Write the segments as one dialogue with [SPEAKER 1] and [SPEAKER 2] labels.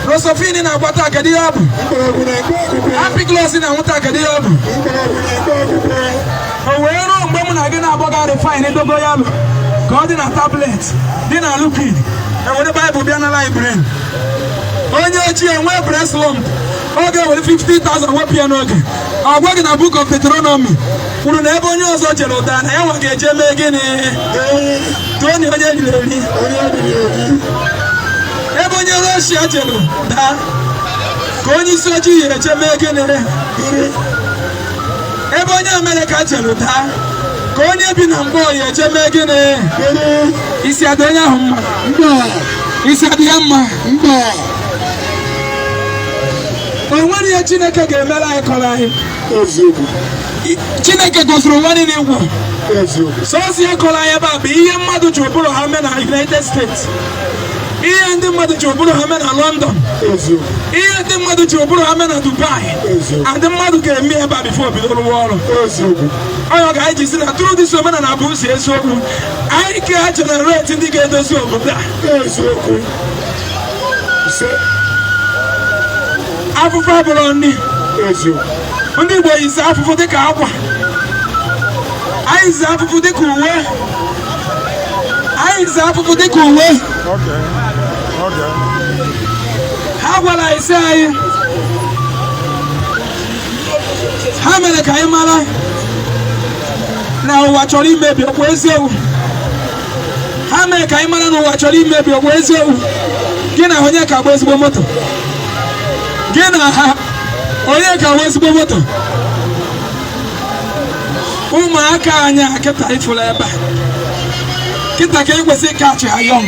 [SPEAKER 1] Rocephin na-agba taa kedu ihe ọ bụ Ampiclox na-aṅụ taa kedu ihe ọ bụ o wee ruo mgbe mụ na gị na-agbaga refine dogoyaro ka ọ dị na tablet dị na liquid e were baịbụl bịa na library onye ochie nwee breast lump ọ ga-ewere 50,000 wepụ ya n'oge a gwa gị na book of Deuteronomy kwuru na ebe onye ọzọ jere daa na ya nwa ga-eje mee gịnị Tony onye e riri eri onye e riri eri ebe onye Russia jere daa ka onye isi ojii ya-eje mee gịnị iri ebe onye Amerịka jere daa ka onye bi na mgbọ ya-eje mee gịnị iri isi adị onye ahụ mma mba isi adị ya mma mba o nwere ihe Chineke ga-emere anyị kọrọ anyị eziokwu chineke gọziri ụwa niile ngwa sọsọ ihe kọrọ anyị ebe a bụ ihe mmadụ ji ụbụrụ ha mee na united states ihe ndị mmadụ ji ụbụrụ ha mee na london ihe ndị mmadụ ji ụbụrụ ha mee na dubai ndị mmadụ ga-eme ebe a bifo bido rụwa ọrụ ọ nya ka anyị ji sị na through this omenala bụ ụzọ eziokwu anyị ga-generate ndị ga-edozi obodo a afụfụ abụrụ nri ndị Igbo yizi afụfụ dịka akwa anyị yizi afụfụ dịka uwe anyị yizi afụfụ dịka uwe ha gwara anyị sị anyị ha mere ka anyị mara na ụwa chọrọ imebi okwu eziokwu ha mere ka anyị mara na ụwa chọrọ imebi ọ bụ eziokwu gị na ha onye ka agba ezigbo moto gị na ha onye ka agba ezigbo moto ụmụaka anyị a kịta ị fụla ebe a kịta ka e kwesị ịcatch ha young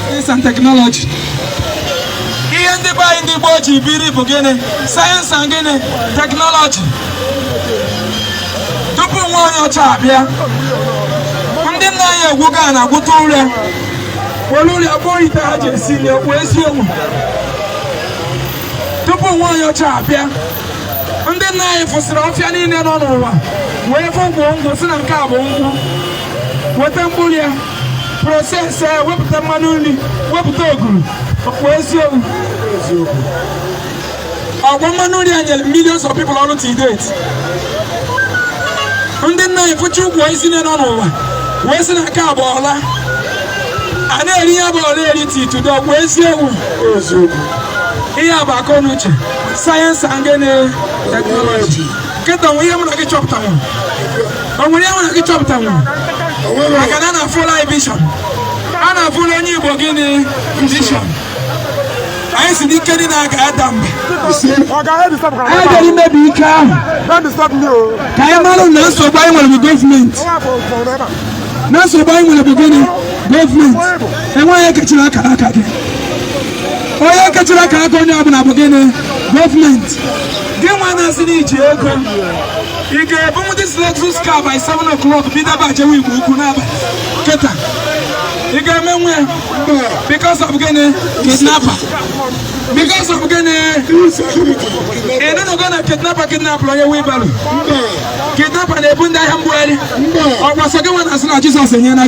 [SPEAKER 1] science and technology ihe ndị be anyị ndị gboo ji biri bụ gịnị science and gịnị technology tupu nwa onye ọcha abịa ndị nna anyị egwuga ana gwuta ụrịa were ụrịa kpụọ ite ha ji esi nri okwu eziokwu tupu nwa onye ọcha abịa ndị nna anyị fụsịrị ọfịa niile nọ n'ụwa wee fụ ukwu nkwụ sị na nke a bụ nkwụ weta mkpụrụ ya process ya wepụta mmanụ nri wepụta oguru okwu eziokwu ọkwa mmanụ nri a nyere millions of people ọrụ till date ndị nna anyị fụcha ukwu osisi nọ n'enu ụwa wee sị na nke a bụ ọla a na-eri ya bụ ọla eri till today ọkwa eziokwu ihe a bụ akọ na uche sayensị and gịnị teknọlọji kịta o nwere ihe mụ na gị chọpụtanwụ o nwere ihe mụ na gị chọpụtanwụ maka na a nafụla anyị vision a nafụla onye igbo gịnị vision anyị sị n'ike niile a ga-ada mba anyị bịara imebi ike ahụ ka anyị mara na nsogbu anyị nwere bụ gọọmenti na nsogbu anyị nwere bụ gịnị gọọmenti enweghị onye kechiri akara aka gị onye kechiri akara aka onye ọbụla bụ gịnị gọọmenti gị nwa na-asị na i ji ego ị ga-ebunwu this lexus car by 7 o'clock bido agbajewe igbo ukwu n'abalị kịta ị ga-emenwu ya Because of gịnị? Kidnapper. Because of gịnị? Ị nụnụgo na kidnapper kidnapụrụ onye wheelbarrow. Kidnapper na-ebu ndị ahịa mgbugharị. Ọ bụ sọ gị nwa na-asị na Jizọs enyela gị.